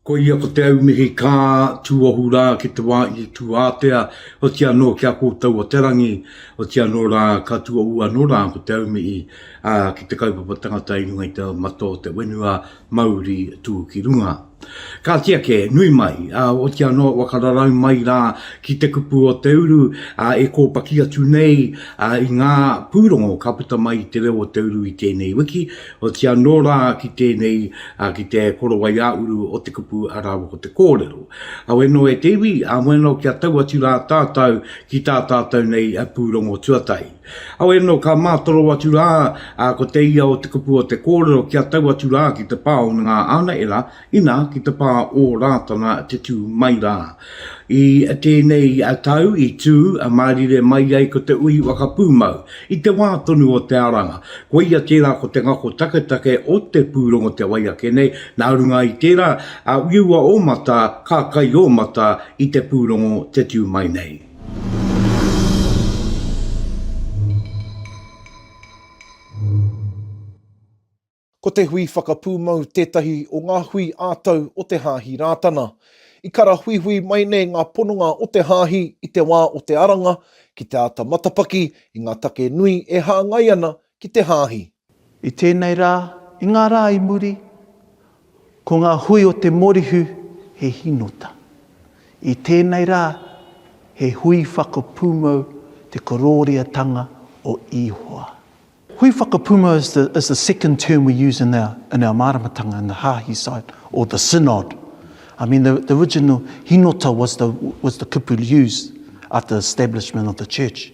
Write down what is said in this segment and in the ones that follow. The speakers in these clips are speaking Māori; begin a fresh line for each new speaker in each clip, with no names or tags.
Koia ko te aumihi kā tūohu rā ki te wā i tū ātea, oti anō ki a kōtou o te rangi, oti anō rā ka tūohu anō rā ko te aumihi ki te kaupapa tangata i runga i te mata o te whenua mauri tū ki runga. Kāti ake, nui mai, ā, oti anō e waka rarau mai rā ki te kupu o te uru, ā, e kōpaki atu nei, ā, i ngā pūrongo ka puta mai i te reo o te uru i tēnei wiki, oti anō rā ki tēnei, ā, ki te korowai ā-uru o te kupu rāua ko te kōrero. Auē nō e te iwi, ā, moe anō kia tau atu rā tātou ki tā tātou nei pūrongo tuatahi. Aue no ka matoro atu ra, a ko te ia o te kupu o te korero kia tau atu ra ki te pa o nga anaera, ina ki te pa o Ratana te tu mai ra. I tenei tau i tu marire mai ai ko te ui Whakapumau, i te wa tonu o te aranga, koia tera ko te ngako taketake o te purongo te wai ake nei, na runga i tera, a uiua o mata, ka kai o mata i te purongo te tu mai nei.
Ko te hui whakapūmau tētahi o ngā hui ā-tau o te Hāhi Rātana. I karahuihui mai nei ngā pononga o te Hāhi i te wā o te aranga ki te āta matapaki i ngā take nui e hāngai ana ki te hāhi. I tēnei
rā, i ngā rā i muri, ko ngā hui o te morihu he hīnota. I tēnei rā, he hui whakapūmau te korōriatanga o Ihoa. Hui whakapūmau is the, is the second term we use in our, in our māramatanga, in the hāhi side, or the synod. I mean, the, the original hīnota was the, was the kupu used after the establishment of the church.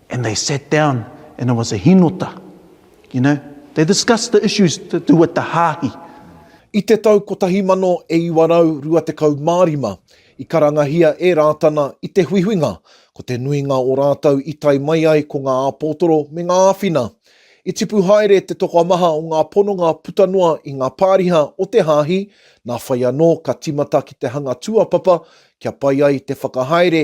And they sat down and it was a hinota, you know, they discussed the issues to do with the hāhi. I te
tau 1925, i karangahia e Rātana i te huihuinga, ko te nuinga o rātou i tae mai ai ko ngā āpōtoro me ngā āwhina. I tipu haere te tokomaha o ngā pononga puta noa i ngā pāriha o te hāhi, nā whai anō ka tīmata ki te hanga tūāpapa kia pai ai te whakahaere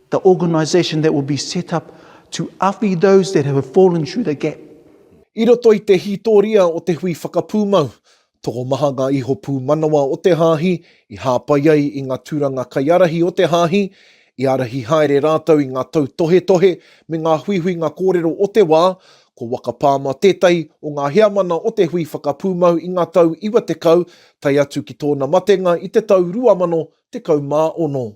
the organisation that will be set up to awhi those that have fallen through the gap. I roto i
te hītoria o te hui whakapūmau, tokomaha ngā iho pūmanawa o te hāhi i hāpai ai i ngā tūranga kaiārahi o te hāhi, i ārahi haere rātou i ngā tautohetohe me ngā huihuinga kōrero o te wā, ko Waka Palmer tētahi o ngā heamana o te hui whakapūmau i ngā tau iwa tekau, tae atu ki tōna matenga i te tau 2016.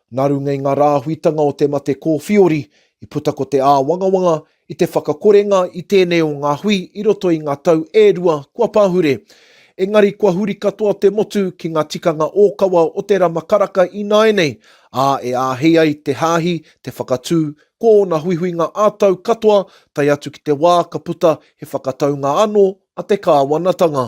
Nā runga i ngā rāhuitanga o te mate kōwhiori, i puta ko te āwangawanga i te whakakorenga i tēnei o ngā hui i roto i ngā tau e rua kua pahure. Engari kua huri katoa te motu ki ngā tikanga ōkawa o te rama karaka ināianei, ā, e āhei ai te hāhi te whakatū ko ōna huihuinga ā-tau katoa tae atu ki te wā ka puta he whakataunga anō a te kāwanatanga.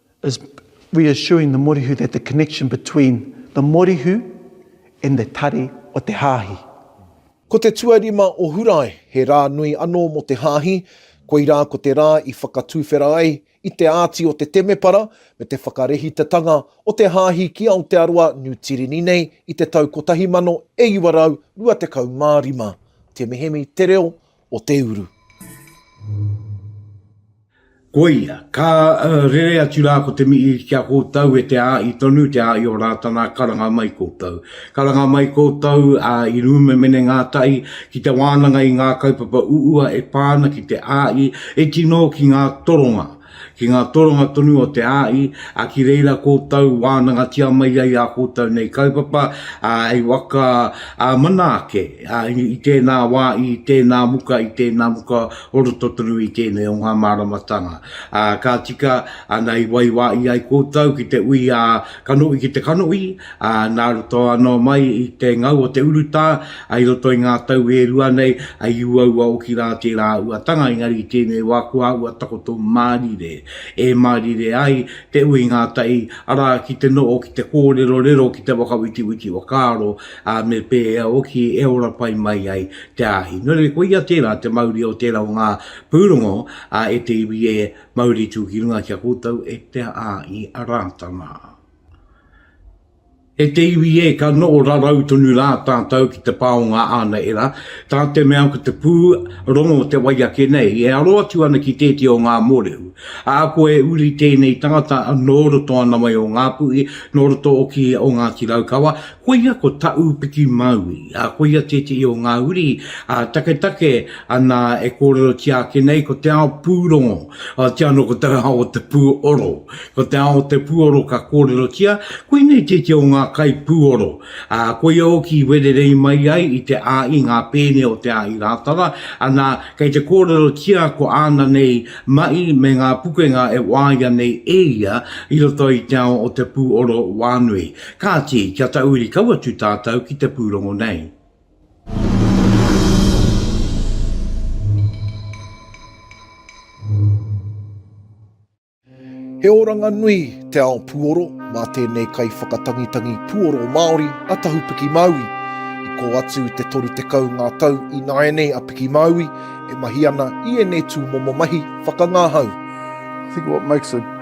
is reassuring the morihu that the connection between the morihu and the tari o te hāhi. Ko te
tuarima o Hurae, he rā nui anō mō te hāhi, koirā ko te rā i whakatuwhera ai i te āti o te temepara me te whakarehitatanga o te hāhi ki Aotearoa, Niu Tirini nei i te tau 1925. Te Mihemi, Te Reo o te uru.
Koia, ka rere atu rā ko te mihi ki a koutou e te āi tonu, te āi o Rātana, karanga mai koutou. Karanga mai koutou, ā, i rūma mene ngātahi, ki te wānanga i ngā kaupapa uua e pā ana ki te āi, e tino ki ngā toronga. Ki ngā toronga tonu o te āi, ā, ki reira koutou wānangatia mai ai ā koutou nei kaupapa, ā, hei waka, ā, mana ake, ā, i tēnā wā, i tēnā muka, i tēnā muka o roto tonu i tēnei o ngā māramatanga. Ā, ka tika, āna i waiwāi ai koutou ki te ui ā, Kanohi ki te kanohi, ā, nā roto anō mai i te ngau o te urutā, ā, i roto i ngā tau e rua nei, ā, i uaua hoki rā tērā uatanga, engari i tēnei wā kua āhua takoto mārire, e mārire ai te ui ngātahi, arā, ki te noho, ki te kōrerorero, ki te whakawitiwiti whakaaro, ā, me pēhea hoki e ora pai mai ai te āhi. Nō reira, koia tērā te mauri o tērā o ngā pūrongo, ā, e te iwi, e Mauri tū ki runga ki a koutou e te a i a Rātana. E te iwi e, ka noho rarau tonu rā tātou ki te pā o ngā ānaera, tā te mea ko te pū rongo te wai ake nei, e aro atu ana ki tētia o ngā mōrehu. Ā, kua e uri tēnei tangata nō roto ana wai o Ngāpuhi, nō roto oki o Ngāti Raukawa, Koia ko Taūpiki Maui, ā, koia tētehi o ngā uri taketake nā e kōrerotia ake nei ko te ao pūrongo, otiia anō ko te ao o te pūoro. Ko te ao o te pūoro ka kōrerotia, koinei tētehi o ngā kaipūoro, ā, koia hoki i wererei mai ai i te āi, ngā pēne o te āi Rātara, anā, kei te kōrerotia ko āna nei maʻi me ngā pukenga e waia nei e ia i roto i te ao o te pūoro wānui. Kāti, kia tauiri kau atu tātou ki te pūrongo nei.
He oranga nui te ao puoro mā tēnei kaiwhakatangitangi puoro Māori a Tahu Piki Māui. I kō atu te 30 ngā tau i nāianei a Piki Māui e mahi ana i ēnei tūmomo mahi whakangāhau. I think
what makes it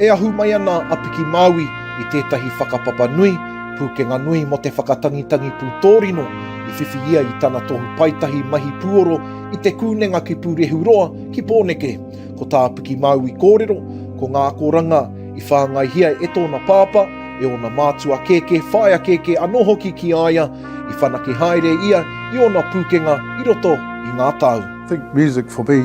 E ahu mai ana
a Piki Māui i tētahi whakapapa nui, pūkenga nui mō te whakatangitangi pūtōrino i whiwhi ia i tana tohu paetahi mahi pūoro i Te Kūnenga ki Pūrehuroa ki Pōneke. Ko tā Piki Māui kōrero, ko ngā akoranga i whāngaihia e tōna pāpā, e ōna mātua kēkē, whaea kēkē anō hoki ki a ia, i whanake haere ia i ōna pūkenga i roto i ngā tau. I think music for
me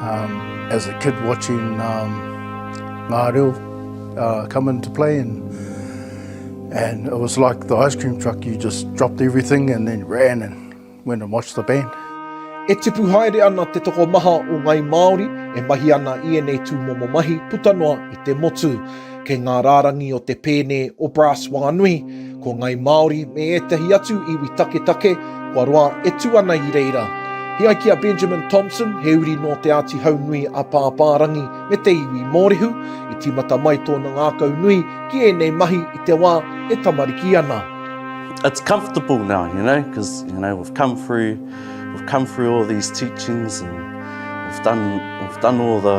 Um, as a kid watching um, ngā reo uh, come into play and and it was like the ice cream truck you just dropped everything and then ran and went and watched the band. E tipu
haere ana te toko maha o Ngai Māori e mahi ana i ēnei tūmomo mahi puta noa i te motu. Kei ngā rārangi o Te Pēne, o Brass Wānui, ko Ngāi Māori me ētahi atu iwi taketake kua roa e tū ana i reira. He ai ki a Benjamin Thompson, he uri nō Te Āti Haunui a Pāpārangi me te iwi Mōrehu, i tīmata mai tōna ngākau nui ki ēnei mahi i te wā e tamariki ana. It's
comfortable now, you know, because you know, we've come through, we've come through all these teachings and we've done, we've done all the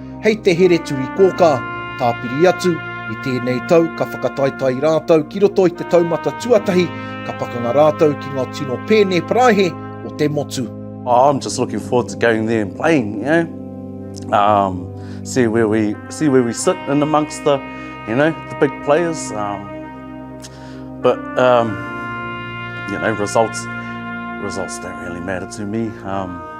hei te here turi kōkā. Tāpiri atu, i tēnei tau ka whakataetae rātou ki roto i te taumata tuatahi, ka pakanga rātou ki ngā tino pēne paraihe o te motu. Oh, I'm just looking
forward to going there and playing, you know. Um, see where we see where we sit in amongst the, you know, the big players. Um, but um, you know, results results don't really matter to me. Um,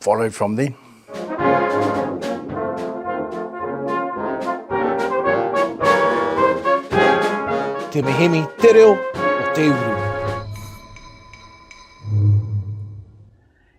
Follow from there.
Te Mihini, Te Reo o Te Uru.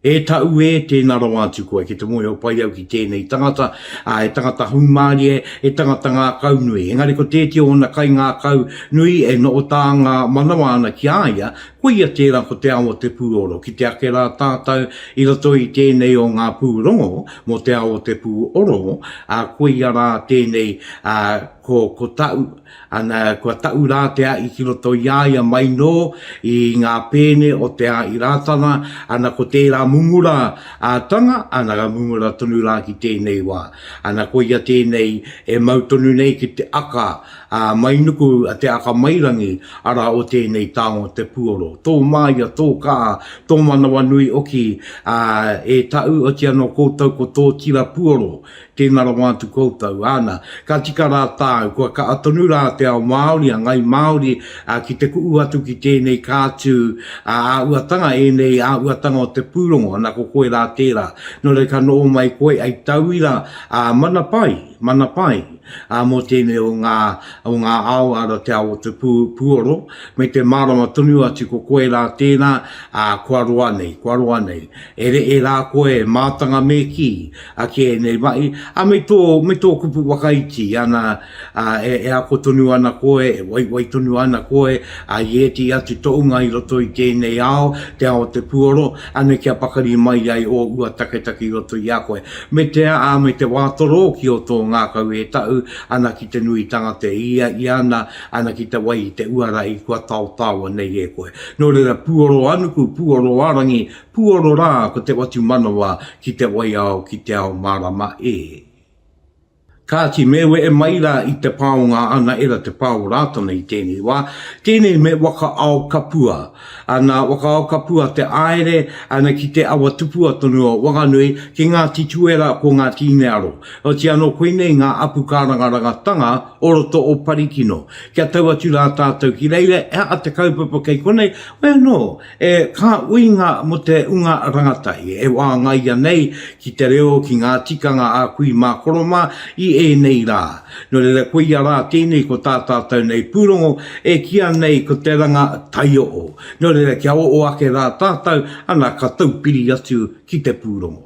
E tau e, tēnā rawa atu koe ki te moe o pai au ki tēnei tangata, a, e tangata hūmārie, e tangata ngā kau nui. Engari ko tēti o ōna kai ngā kau nui e noho tā ngā manawa ana ki a ia, Koia tērā ko te ao o te pūoro. Ki te ake rā tātou i roto i tēnei o ngā pūrongo mō te ao o te pūoro, ā, koia rā tēnei, ā, ko, ko Taʻu, ana, kua Taʻu rā te aʻi ki roto i a ia mai nō i ngā pēne o te aʻi Rātana, ana, ko tērā mumura ā tanga, ana, ka mumura tonu rā ki tēnei wā. Ana, koia tēnei e mau tonu nei ki te aka, Ā, mai nuku a te akamairangi, arā, o tēnei taonga o te puoro, tō māia, tō kā, tō manawanui oki, ā, e Tāu, oti anō koutou ko tō tira puoro, tēnā rawa atu koutou, āna, ka tika rā tāu, kua kaha tonu rā te ao Māori, a Ngāi Māori, ā, ki te kuʻu atu ki tēnei kātū, ā, āhuatanga ēnei, āhuatanga o te pūrongo, ana ko koe rā tērā, nō reira ka noho mai koe, hei tauira, ā, mana pai. Mana pai mō tēnei o ngā o ngā ao ara te ao o te pū pūoro me te mārama tonu atu ko koe rā tēnā ā kua roa nei kua roa nei e reʻe rā koe e mātanga me kī ake ēnei maʻi a me tō me tō kupu whakaiti ana ā e e ako tonu ana koe e waiwai tonu ana koe ā i ētehi atu toʻunga i roto i tēnei ao te ao o te pūoro Anei kia pakari mai ai ō ua taketake i roto i a koe. Me te a, ā, me te wā torō ki ō tō ngākau e tahu ana ki te nuitanga te ia i ana ana ki te wai i te uara i kua taotaoa nei e koe. Nō reira, puoro anuku, puoro arangi, puoro rā ko te watu manawa ki te waiao ki te ao mārama e. Kāti, me wehe mai rā i te pā o ngā anaera te pā o Rātana i tēnei wā. Tēnei me Waka-ao-kapua. Nā Waka-ao-kapua te āere ki te awa tupua tonu o Wanganui, ki Ngāti Tuera ko Ngāti Inearo. Oti anō koinei ngā apu kārangarangatanga o roto o Parikino. Kia tau atu rā tātou ki reira, he aha te kaupapa kei konei? Wai anō, E kā uinga mō te unga rangatahi e wāngaia nei ki te reo, ki ngā tikanga a kui mā koro mā i ēnei rā. Nō reira koia rā tēnei ko tā tātou nei pūrongo e kīa nei ko te ranga taioo. Nō reira kia oo ake rā tātou ana ka taupiri atu ki te pūrongo.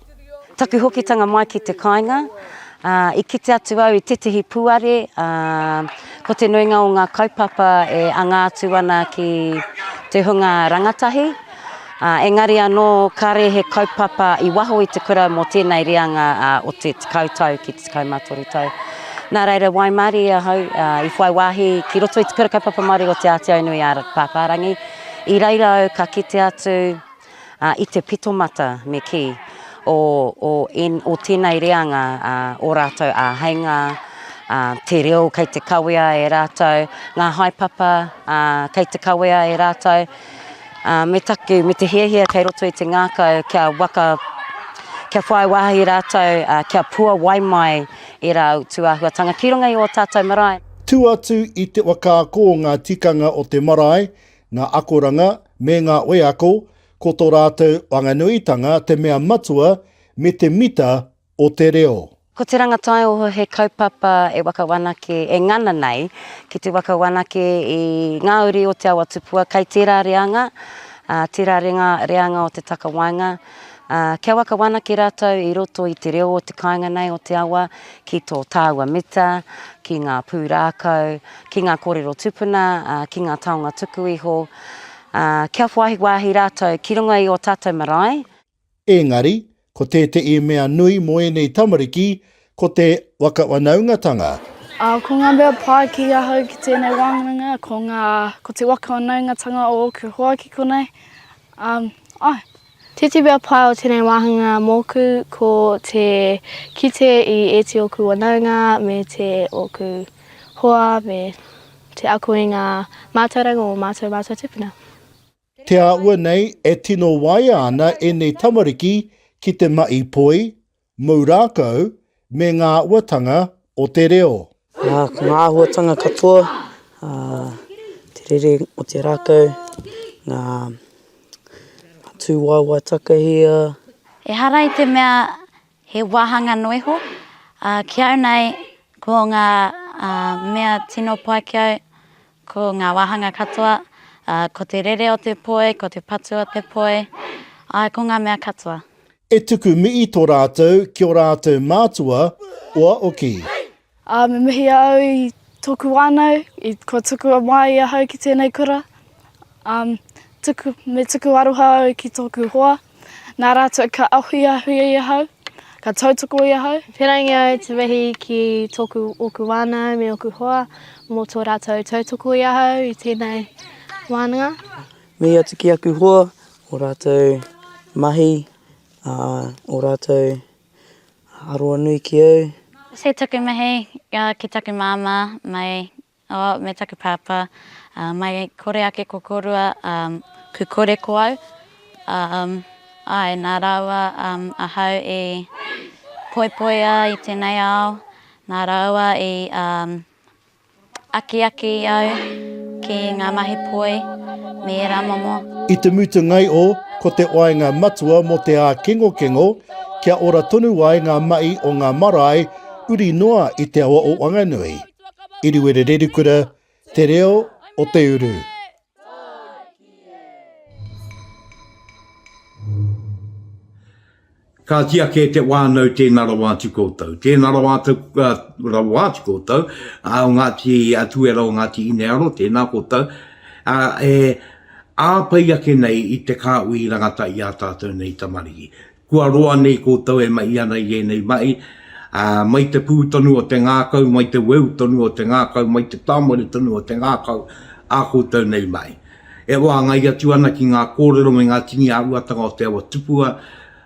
Taku
hokitanga mai ki te kāinga, i kite atu au i tētehi pūare, ko te nuinga o ngā kaupapa e anga atu ana ki te hunga rangatahi, engari anō kāre he kaupapa i waho i te kura mō tēnei reanga o te tekau tau ki te tekau mā toru tau. Nā reira, waimarie ahau i whai wāhi ki roto i te Kura Kaupapa Māori o Te Ātiaunui a Pāpārangi, i reira au ka kite atu, i te pitomata me kī, o, o, en, o tēnei reanga ā, ō rātou āheinga, ā, te reo kei te kawea e rātou, ngā haepapa ā, kei te kawea e rātou, ā, me taku, me te hiahia kei roto i te ngākau kia waka, kia whai wāhi rātou, ā, kia puawai mai ērā utu āhuatanga ki runga i ō tātou marae. Tū atu i
te waka ako o ngā tikanga o te marae, Ngā akoranga me ngā wheako ko tō rātou whanganuitanga te mea matua me te mita o te reo. Ko Te Rangataioho
he kaupapa e wakawanake, e ngana nei ki te wakawanake i ngā uri o te awa tupua kei tērā reanga, tērā reanga o te takawaenga, kia wakawanake rātou i roto i te reo o te kāinga nei o te awa ki tō tāua mita, ki ngā pūrākau, ki ngā kōrero tupuna, ki ngā taonga tuku iho, kia whai wāhi rātou ki runga i ō tātou marae. Engari,
ko tēteʻi mea nui mō ēnei tamariki, ko te wakawanaungatanga. Ko ngā
mea pai ki ahau ki tēnei wānanga, ko ngā, ko te wakawanaungatanga o ōku hoa ki konei, āe.
Titibea pai o tenei wāhanga mōku ko te kite i ēti oku wanaunga me te oku hoa me te ako i ngā mātauranga o mātou mātou tupuna. Te
āhua nei e tino waea ana ēnei tamariki ki te mahi poi, Mou rākau me ngā āhuatanga o te reo. Ā, ko ngā
āhuatanga katoa, ā, te rere o te rākau, ngā tūwaewae takahia. Ehara i
te mea he wāhanga noa iho, ā, ki au nei, ko ngā mea tino pai ki au, Ko ngā wāhanga katoa, ko te rere o te poi, ko te patu o te poi, āe, ko ngā mea katoa. E tuku
mihi to ratou ki o ratou mātua oa oki. A me mihi
au i toku whanau, i kua tukua mai ahau ki tenei kura. Um, tuku, me tuku aroha au ki tōku hoa, nā rātou ka ahuiahuia i ahau, ka tautoko i ahau. Whērangi au te wehi
ki tōku, ōku wānau me ōku hoa mō tō rātou tautoko i ahau i tēnei wānanga. Mihi atu
ki aku hoa, ō rātou mahi, ā, ō rātou aroa nui ki au. He tuku mihi
ki taku māmā mai Oh, me taku pāpā, uh, mai kore ake ko korua, um, ku kore ko au. Um, ai, nā rāua um, ahau i poipoia i tēnei ao, nā rāua i um, akiaki i au ki ngā mahi poi me ērā momo. I te mutungai
o Ko te waenga matua mō te ākengokengo, kia ora tonu ai ngā mahi o ngā marae uri noa i te awa o Wanganui. Iriwererekura, Te Reo o te Uru.
Kāti ake te wānau tēnā rawa atu koutou. Tēnā rawa atu, uh, rawa atu koutou, uh, o Ngāti Atuera, o Ngāti Inearo, tēnā koutou. Uh, e āpai ake nei i te kāui rangata i a tātou nei tamariki. Kua roa nei koutou e mahi ana i ēnei mahi, ā, mai te pū tonu o te ngākau, mai te weu tonu o te ngākau, mai te tāmare tonu o te ngākau, ā koutou nei mahi. E wāngai atu ana ki ngā kōrero me ngā tini āhuatanga o te awa tupua,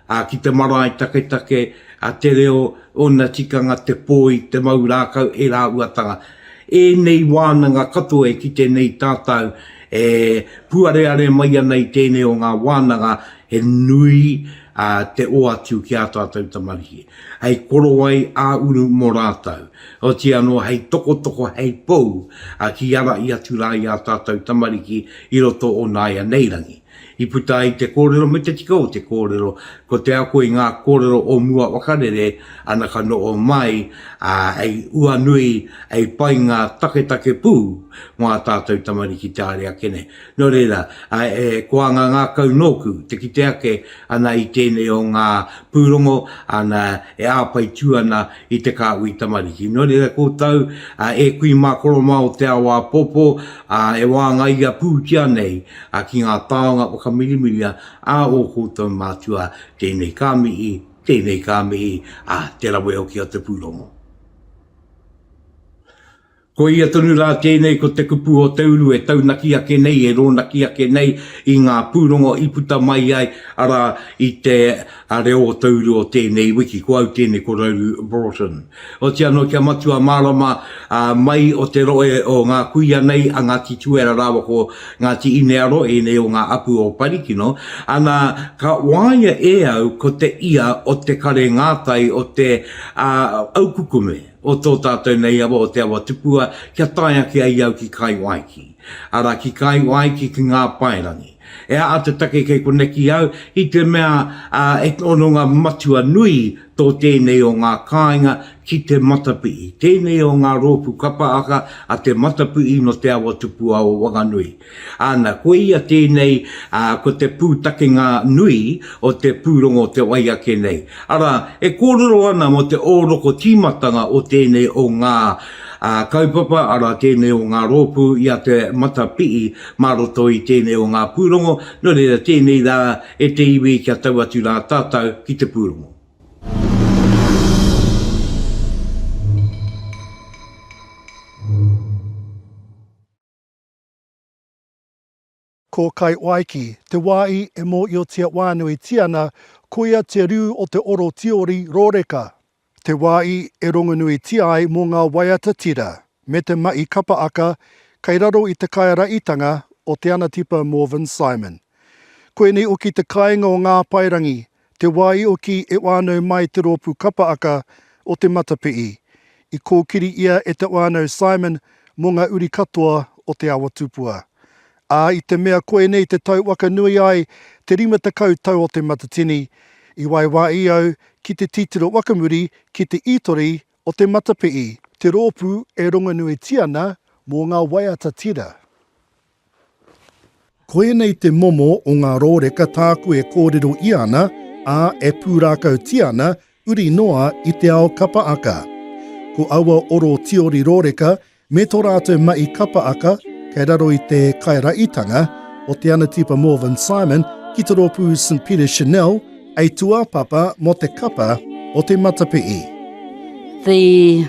ā, ki te marae taketake, ā, te reo, ōna tikanga, te poi, te mau rākau, ērā āhuatanga. Ēnei wānanga katoa e kite nei tātou e puareare mai ana i tēnei o ngā wānanga He nui te oatu ki ā tātou tamariki, hei korowai ā-uru mō rātou, otīi anō hei tokotoko, hei pou ki ārahi atu rā i ā tātou tamariki i roto o nāianei rangi. I puta ai te kōrero me te tika o te kōrero, ko te ako i ngā kōrero o mua wakarere ana ka noho mai, ā, hei uanui, hei pai ngā taketake pū mō ā tātou tamariki te haere ake nei. Nō reira, e koa ngā ngākau nōku, te kite ake ana i tēnei o ngā pūrongo, ana, e āwhai tū ana i te kāhui tamariki. Nō reira, koutou, e kui mā Koromā o te ao āpōpō, e wāngaia pūtia nei ki ngā taonga whakamirimiria a ō koutou mātua, tēnei ka mihi, tēnei ka mihi, ā, te rawe hoki o te pūrongo. Ko ia tonu rā tēnei ko te kupu o te uru e taunaki ake nei, e rōnaki ake nei i ngā pūrongo i puta mai ai, arā, i te reo o te uru o tēnei wiki. Ko au tēnei ko Rauru Broughton. Oti anō kia matua mārama mai o te rohe o ngā kuia nei a Ngāti Tuera rāua ko Ngāti Inearo, ēnei o ngā apu o Parikino, ana, ka waia e au ko te ia o te kare ngātai o te au kukume. o tō tātou nei awa o Te Awatupua kia tae ake ai au ki Kai Waiki, arā ki Kai Waiki ki ngā paerangi. E aha te take kei koneki au? I te mea he hononga matua nui tō tēnei o ngā kāinga ki te matapihi, tēnei o ngā rōpū kapa aka a Te Matapihi nō Te Awatupua o Wanganui. Ana, ko ia tēnei, ā, ko te pūtakenga nui o te pūrongo te wai ake nei. Arā, e kōrero ana mō te ōroko tīmatanga o tēnei o ngā, ā, kaupapa, arā, tēnei o ngā rōpū i a Te Matapihi mā roto i tēnei o ngā pūrongo, nō reira, tēnei rā e te iwi kia tau atu rā tātou ki te pūrongo.
Ko Kaiwaiki, te wāhi e mōhiotia whānuitia ana, koia te rū o te oro tiori rōreka, te wāhi e rongonuitia ai mō ngā waiata tira, me te mahi kapa aka kei raro i te kaiaraitanga o Te Anatipa Morvin Simon. Koinei hoki te kāinga o Ngā Paerangi Te wā i oki e whānau mai te rōpū kapa aka o Te Matapihi, i kōkiri ia e te whānau Simon mō ngā uri katoa o Te Awa Tupua. Ā, i te mea koinei te tau waka nui ai te rima tekau tau o Te Matatini, i waiwāī au ki te titiro whakamuri ki te ītori o Te Matapihi, te rōpū e rongonuitia ana mō ngā waiata tira. Ko ēnei te momo o ngā rōreka tāku e kōrero ia ana, ā, e pūrākautia ana, uri noa i te ao kapa aka. Ko aua oro tiori rōreka me tō rātou mahi kapa aka kei raro i te kairaitanga o Te Anatipa Morvin Simon ki te rōpū St Peter Chanel hei tūāpapa mō te kapa o te matapihi. The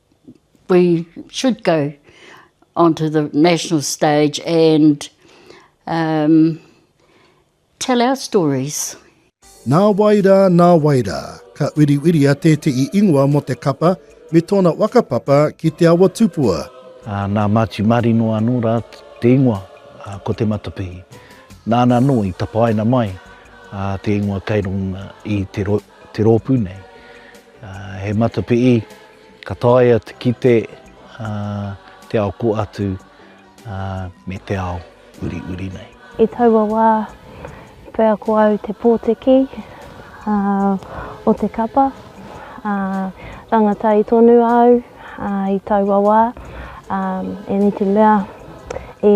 we should go on to the national stage and um, tell our stories. Nā
wai rā, nā wai rā, ka uiriuiria tētehi ingoa mō te kapa me tōna whakapapa ki Te Awa Tupua. Uh, nā Māti
Marino anō rā te ingoa, uh, ko Te Matapihi. Nāna anō i tapaina mai uh, te ingoa kei runga i te, ro te rōpū nei. He matapihi ka taea te kite te ao kō atu me te ao uriuri nei. I taua wā,
pea ko au te pōtiki o te kapa. Rangatahi tonu au i taua wā, ēnei te mea i.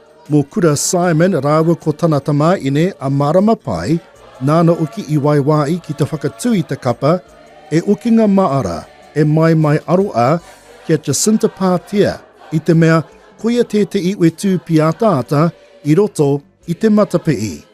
Mō
Kura Simon rāua ko tana tamāine a Mārama Pai, nāna hoki i waiwā ai ki te whakatū i te kapa E Okinga Maara, e Maimai Aroa ki a Jacinta Pātea, i te mea koia tētehi wetū pīataata i roto i te matapihi.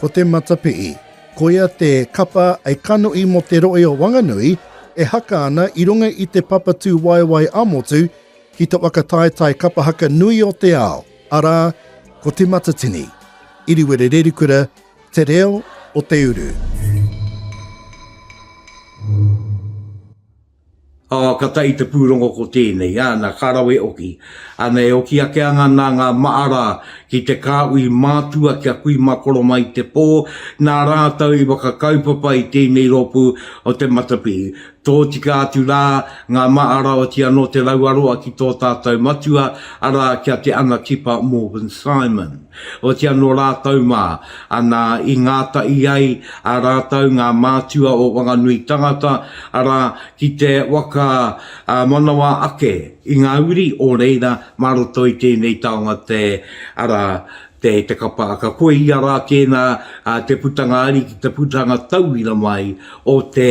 Ko te matapihi,
koia te kapa a kanohi mō te rohe o Wanganui e haka ana i runga i te papatū waewae ā-motu ki te whakataetae kapa haka nui o te ao, arā, ko Te Matatini, Iriwere Rerikura, Te Reo o te Uru.
Ā, ka tae i te pūrongo ko tēnei, āna, ka rawe oki. Āna, e oki ake ana nā ngā maʻara ki te kāhui mātua kia kui mā Koroma i te pō, nā rātou i whakakaupapa i tēnei rōpū o te matapihi. Tōtika atu rā ngā maʻara oti anō te rauaroa ki tō tātou matua, arā, ki a Te Anatipa Morgan Simon. Otiia nō rātou mā, ana, i ngātahi ai a rātou ngā mātua o Wanganui tangata, arā, ki te waka manawa ake i ngā uri o reira mā roto i tēnei taonga te, arā, te, te kapa aka. Koia rā tēnā te putanga ari ki te putanga tauira mai o te.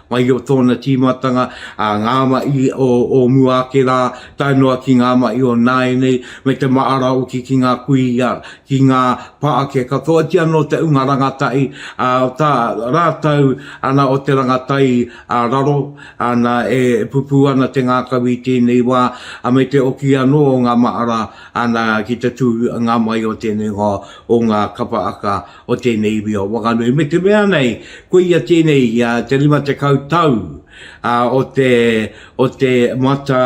Mai o tōna tīmatanga, ā, ngā mahi o, o mua ake rā, tae noa ki ngā mahi o nāianei, me te māra hoki ki ngā kuia, ki ngā pākeke katoa, ki anō te ūnga rangatahi, ā, o tā rātou, ana, o te rangatai, ā, raro, ana, e pupū ana te ngākau i tēnei wā, ā, me te oki anō o ngā mahara, ana, ki te tū, ngā mahi o tēnei hoa, o ngā kapa aka, o tēnei iwi o Whanganui, me te mea nei, koia tēnei i a te rima tekau tau o te, o te mata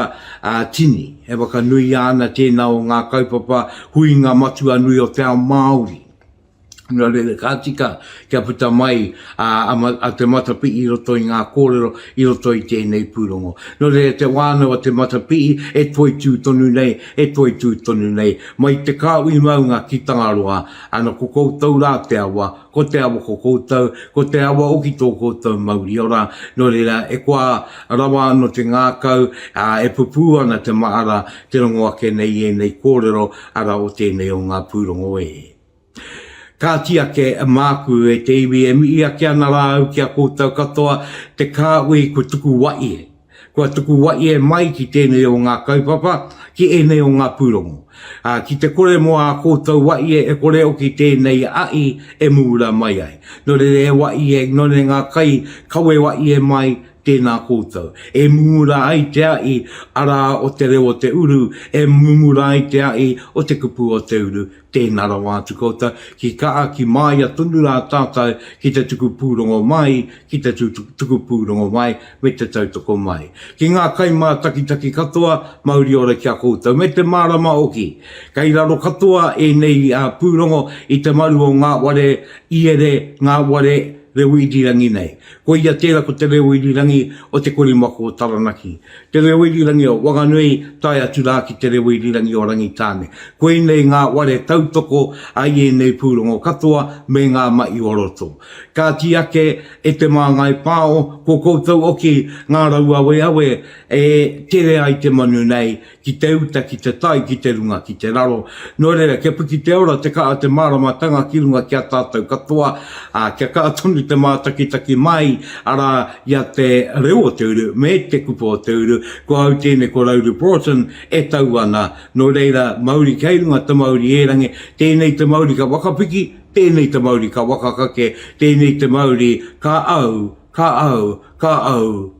tini, e whakanuia ana tēnā o ngā kaupapa huinga matua nui o te ao Māori. Nō reira, ka tika kia puta mai a te matapihi i roto i ngā kōrero, i roto i tēnei pūrongo. Nō reira, te wānau a te matapihi e toitū tonu nei, e toitū tonu nei, mai te Kāhui Maunga ki Tangaroa, Ana ko koutou rā te awa, ko te awa ko koutou, ko te awa hoki tō koutou mauri ora, nō reira e koa rawa anō te ngākau, ā, e pupū ana te mahara, te rongo ake nei i ēnei kōrero, arā, o tēnei o ngā pūrongo e. Kāti ake māku e te iwi e mihi ake ana rā au ki a koutou katoa, te Kāhui kua tuku wai e. Kua tuku wai e mai ki tēnei o ngā kaupapa, ki ēnei o ngā pūrongo. Ki te kore mō ā koutou wai e kore oki tēnei ahi e muura mai ai. Nō reira e wai e, nō reira ngā kai, kawe wai e mai, tēnā koutou. E mumura ai te ahi, arā o te reo o te uru, e mumura ai te ahi o te kupu o te uru, Tēnā rawa atu koutou, ki kaha, ki māia tonu rā tātou ki te tuku pūrongo mai, ki te tuku pūrongo mai me te tautoko mai. Ki ngā kaimātakitaki katoa, mauri ora ki a koutou, me te mārama hoki. Kei raro katoa ēnei pūrongo i te maru o ngā ware iere, ngā ware reo irirangi nei. Koia tērā ko Te Reo Irirangi o Te Korimako o Taranaki. Te Reo Irirangi o Wanganui tae atu rā ki Te Reo Irirangi o Rangitāne. Koinei ngā ware tautoko a i ēnei pūrongo katoa me ngā mahi o roto. Kāti ake e Te Māngai Pāo, ko koutou hoki ngā rauaweawe e tere ai te manu nei ki te uta, ki te tai, ki te runga, ki te raro, nō reira, kia piki te ora, te kaha, te māramatanga ki runga ki a tātou katoa, ā, kia kaha tonu te mātakitaki māi, arā, i a Te Reo o Te Uru me Te Kupu o Te Uru, ko au tēnei ko Rauru Broughton e tau ana, nō reira, mauri kei runga te mauri ērangi, tēnei te mauri ka whakapiki, tēnei te mauri ka whakakake, tēnei te mauri ka au, ka au, ka au,